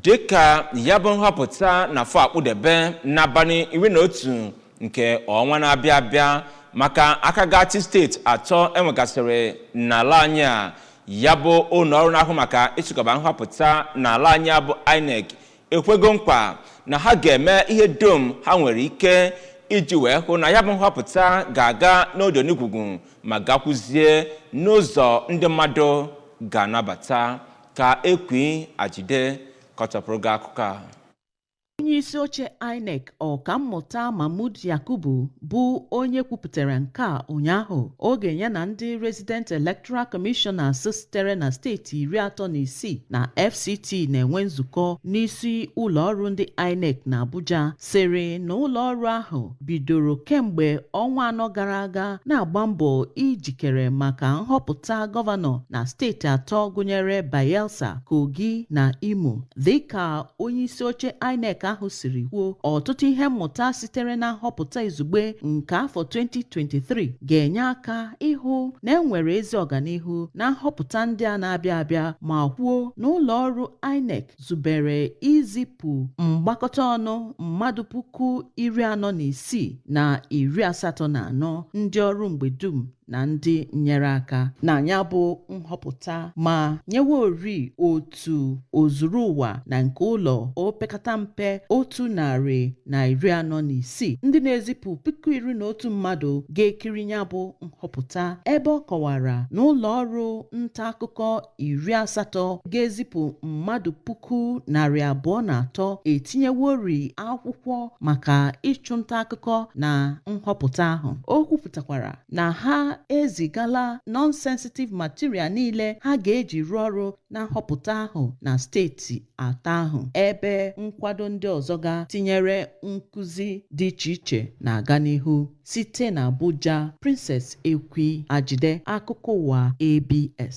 dịka ya bụ nhọpụta na afọ akpụdebe n'abalị iri na otu nke ọnwa na-abịa abịa maka aka ga-achị steeti atọ enwegasịrị n'ala anyị a ya bụ ụlọ ọrụ na-ahụ maka ịchịkọba nhọpụta n'ala anyị a bụ INEC ekwego nkwa na ha ga-eme ihe dum ha nwere ike iji wee hụ na ya bụ nhọpụta ga-aga n'odo n'igwugwu ma gakwuzie n'ụzọ ndị mmadụ ga-anabata ka Ekwi Ajide kọchapụrụ gị akụkọ a onye isi oche INEC ọkammụta Mahmood Yakubu bụ onye kwupụtara nke a ụnyaahụ oge ya na ndị resident electoral commissioners sitere na steeti iri atọ na isii na FCT na-enwe nzukọ n'isi ụlọ ọrụ ndị INEC na Abuja sịrị na ụlọ ọrụ ahụ bidoro kemgbe ọnwa anọ gara aga na-agba mbọ ijikere maka nhọpụta gọvanọ na steeti atọ gụnyere Bayelsa, Kogi na Imo. Dịka onyeisi oche INEC ahụ siri kwuo, ọtụtụ ihe mmụta sitere na nhọpụta izugbe nke afọ 2023 ga-enye aka ịhụ na enwere ezi ọganihu na nhọpụta ndị a na-abịa abịa ma kwuo na ụlọ ọrụ INEC zubere izipụ mgbakọta ọnụ mmadụ puku iri anọ na isii na iri asatọ na anọ ndị ọrụ mgbe dum na ndị nnyere aka na ya bụ nhọpụta ma nyewori otu ozuru ụwa na nke ụlọ opekata mpe otu narị na iri anọ na isii ndị na-ezipụ puku iri na otu mmadụ ga-ekiri ya bụ nhọpụta ebe ọ kọwara na ụlọ ọrụ nta akụkọ iri asatọ ga-ezipụ mmadụ puku narị abụọ na atọ etinyewori akwụkwọ maka ịchụnta akụkọ na nhọpụta ahụ o kwupụtakwara na ha ezigala non-sensitive material niile ha ga-eji rụọ ọrụ na nhọpụta ahụ na steeti atọ ahụ ebe nkwado ndị ọzọ ga tinyere nkụzi dị iche iche na-aga n'ihu site na Abuja Princess Ekwi Ajide akụkọ ụwa ABS